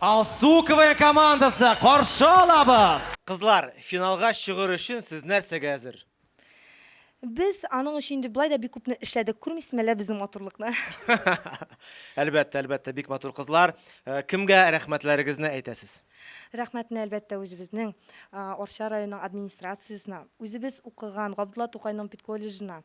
Алсуковая командасы каршы алабыз. Кызлар, финалга чыгыр өчен сез нәрсәгә әзер? Без аның өчен инде былай да бик күпне эшләдек. Күрмисезме әллә безнең матурлыкны? Әлбәттә, әлбәттә, бик матур кызлар. Э, Кемгә рәхмәтләрегезне әйтәсез? Рәхмәтне, әлбәттә, үзебезнең Арча районы администрациясенә, үзебез укыган Габдулла Тукайның педколледжына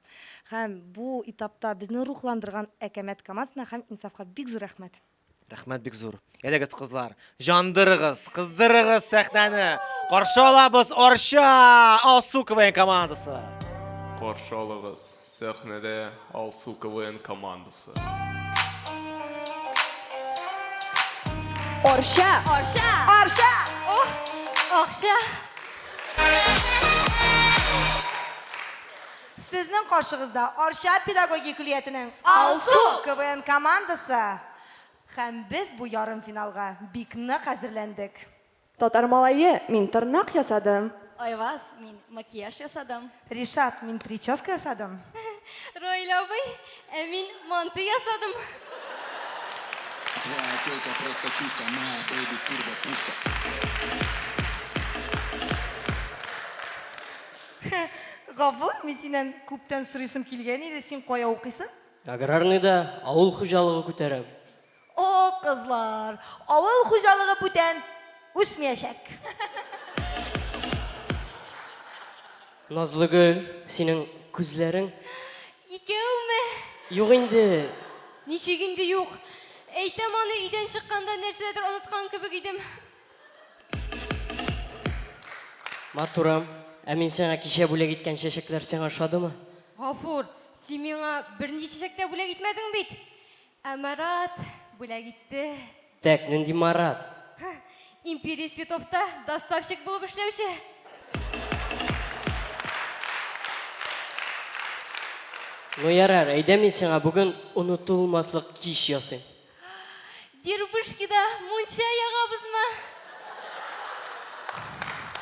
һәм бу этапта безне рухландырган Әкәмәт командасына һәм Инсафка бик зур рәхмәт. Рәхмәт бик зур. Әйдәгез, кызлар, җандырыгыз, кыздырыгыз сәхнәне! Каршы алабыз Арча Алсу КВН командасы! Каршы алыгыз сәхнәдә! Алсу КВН командасы. Орча! Орча! Орча! Ох! Акча! Сезнең каршыгызда Орча педагогия көллиятенең Алсу КВН командасы. Һәм без бу ярым финалга бик нык әзерләндек. Татар малае, мин тырнак ясадым. Айваз, мин макияж ясадым. Ришат, мин прическа ясадым. Раил абый, ә мин манты ясадым. Твоя тёлка просто чушка, моя бэйби турбо пушка. Гафур, мин синнән күптән сорыйсым килгән иде, син кая укыйсың? Аграрныйда авыл хуҗалыгы күтәрәм. О, кызлар! Авыл хуҗалыгы бүтән үсмиячәк. Назлыгөл, синең күзләрең. Икәүме? Юк инде. Ничек инде юк? Әйтәм аны, өйдән чыкканда нәрсәдер оныткан кебек идем. Матурым, ә мин сиңа кичә бүләк иткән чәчәкләр сиңа ошадымы? Гафур, син миңа берничә чәчәк тә бүләк итмәдең бит. Ә Марат бүләк итте. Тәк, нинди Марат? Империя цветовта доставщик булып эшләүче. Ну ярар, әйдә мин сиңа бүген онытылмаслык кич ясыйм. Дербышкида мунча ягабызмы?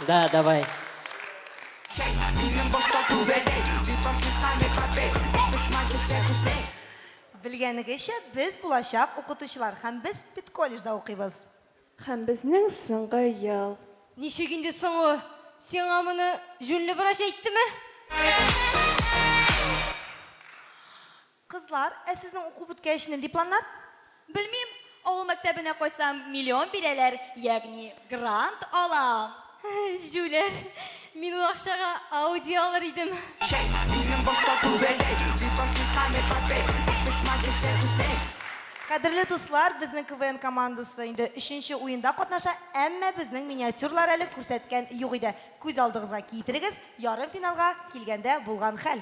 Да, давай. Белгәнегезчә, без булачак укытучылар һәм без педколледжда укыйбыз. Һәм безнең соңгы ел. Ничек инде соңгы? Сиңа моны җүнле врач әйттеме? Кызлар, ә сезнең уку беткәчме, дипломнар? Белмим, Авыл мәктәбенә кайтсам, миллион бирәләр, ягъни грант алам. Җүләр, мин ул акчага Ауди алыр идем. Чәй, минем башта күбәләк. Битафис һәм Эпопей, Очкычман килсә күзләй. Кадерле дуслар, безнең КВН командасы инде өченче уенда катнаша, әмма безнең миниатюрлар әле күрсәткән юк иде. Күз алдыгызга китерегез, ярымфиналга килгәндә булган хәл.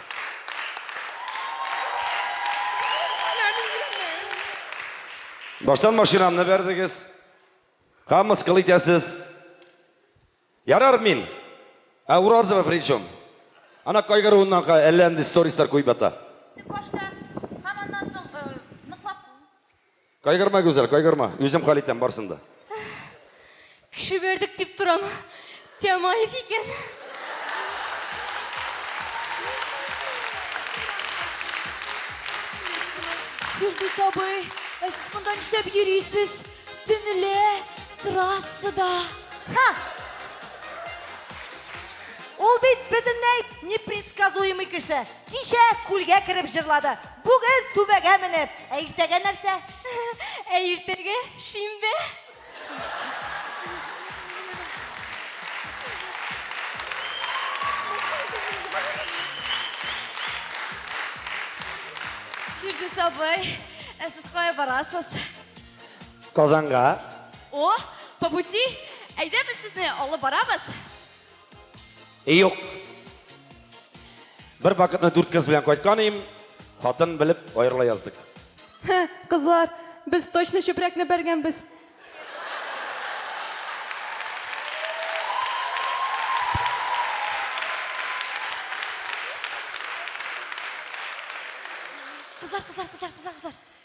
Баштан машинамны бәрдегез. Һәм мыскыл итәсез. Ярар мин. Ә Уразова при чем? Ана кайгыруыннан әллә нинди сторислар куеп ята. Башта Кайгырма, Гүзәл, кайгырма. Үзем хәл итәм барсын да. Кеше бердек дип торам. Тямаев икән. Фирдүс абый, ә сез монда нишләп йөрисез? Төнлә трассада. Ха! Ул бит бөтенләй непредсказуемый кеше. Кичә күлгә кереп җырлады. Бүген түбәгә менеп, ә иртәгә нәрсә? Ә иртәгә шимбә. Фирдүс абый, ә сез кая барасыз? Казанга. О, по пути, әйдә без сезне алып барабыз. Юк. Бер пакетны дүрт кыз белән кайткан идем, хатын белеп аерыла яздык. Кызлар, без точно чүпрәкне бәргәнбез. Кызлар, кызлар, кызлар, кызлар, кызлар.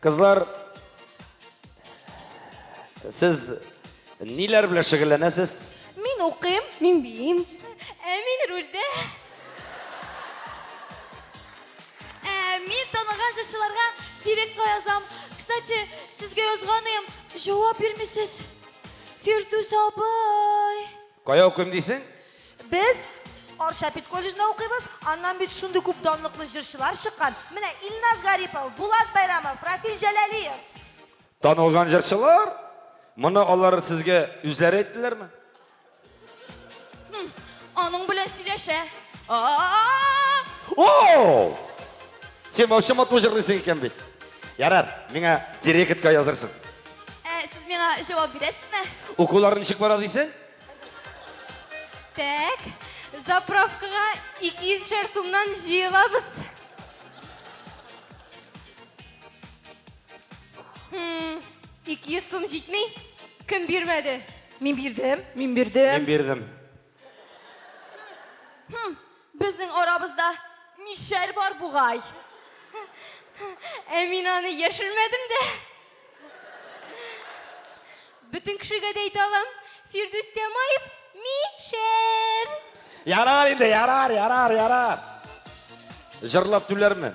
Кызлар, сез ниләр белән шөгыльләнәсез? Мин укыйм. Мин биим. Ә мин рульдә. Ә мин таныган җырчыларга директка язам. Кстати, сезгә язганым, җавап бирмисез. Фирдүс абый. Кая укыйм дисең? Без Арча педколледжында укыйбыз. Аннан бит шундый күп данлыклы җырчылар чыккан. Менә Илназ Гарипов, Булат Байрамов, Рафил Җәләлиев. Танылган җырчылар? Моны алар сезгә үзләре әйттеләрме? Аның белән сөйләшә. О! Син вообще матур җырлыйсың икән бит. Ярар, миңа директка язырсың. Ә, сез миңа җавап бирәсезме? Укулар ничек бара дисең? Так, заправкага 200 шәр сумнан җыелабыз. Хм, 200 сум җитми? Кем бирмәде? Мин бирдем. Мин бирдем. Мин бирдем. Хм, безнең арабызда мишәр бар бугай. Ә мин аны яшермәдем дә. Бөтен кешегә дә әйтә алам, Фирдүс Тямаев мишәр. Ярар инде, ярар, ярар, ярар. Җырлап түләрмен.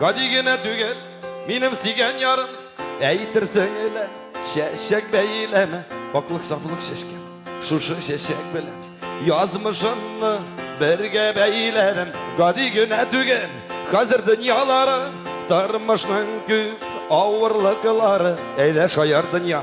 Гади генә түгел, минем сөйгән ярым Әйтерсең элә, чәчәк бәйләме Паклык сафлык чәчкәм, шушы чәчәк белән Язмышымны бергә бәйләрем Гади генә түгел, хәзер дөньялары Тормышның күп авырлыклары Әйдә шаяр дөнья,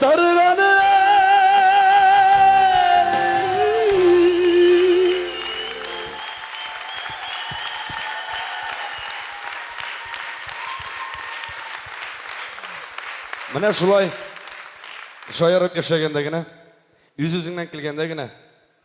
Дарыганын Менә шулай шаярып яшәгәндә генә, үз-үзеңнән көлгәндә генә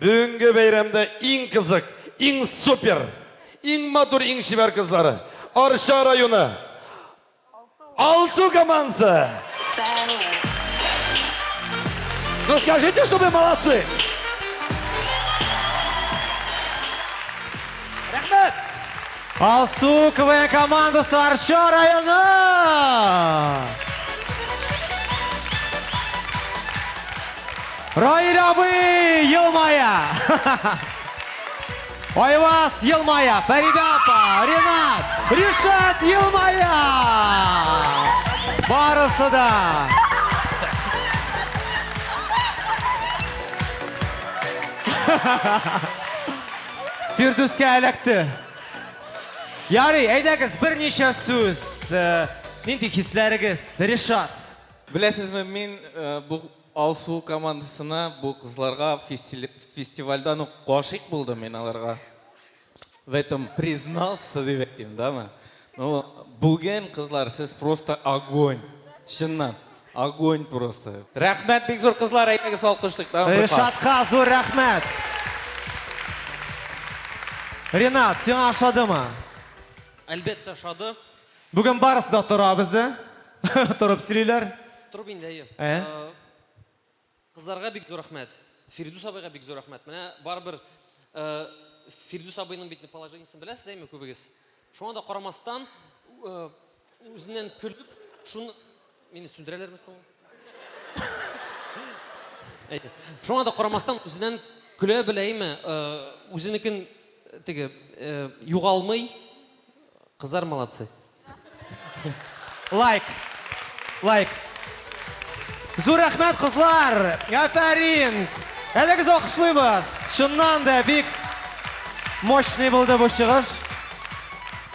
Бүгенге бәйрәмдә иң кызык, иң супер, иң матур, иң чибәр кызлары, Арча районы Алсу командасы! Ну скажите, что вы молодцы! Рәхмәт! Алсу КВН командасы Арча районы! Раил абый елмая! Айваз елмая! Фәридә апа, Ренат, Ришат елмая! Барысы да! Фирдүскә эләкте. Ярый, әйдәгез, берничә сүз. Э, нинди хисләрегез, Ришат? Беләсезме, мин э, бу Алсу командасына бу кызларга фестивальдан ук гашыйк булдым мин аларга. В этом признался дип әйтим, дама. Ну, бүген кызлар сез просто огонь. Чыннан, огонь просто. Рәхмәт бик зур кызлар, әйдәгез алкышлыйк, дама. Ришатка зур рәхмәт. Ренат, сиңа ошадымы? Әлбәттә ошады. Бүген барысы да тора бездә. Торып сөйлиләр. Торып инде, әйе. Ә? Кызларга бик зур рәхмәт. Фирдүс абыйга бик зур рәхмәт. Менә барыбер Фирдүс абыйның бит положениесен беләсез, әйме, күбегез. Шуңа да карамастан, үзеннән көлеп, шуны Мине сүндерәләрме соң? Шуңа да карамастан, үзеннән көлә беләйме, үзенекен теге югалмый. Кызлар молодцы. Лайк. Лайк. Зур рәхмәт, кызлар! Афәрин! Әле без алкышлыйбыз. Чыннан да бик мощный булды бу чыгыш.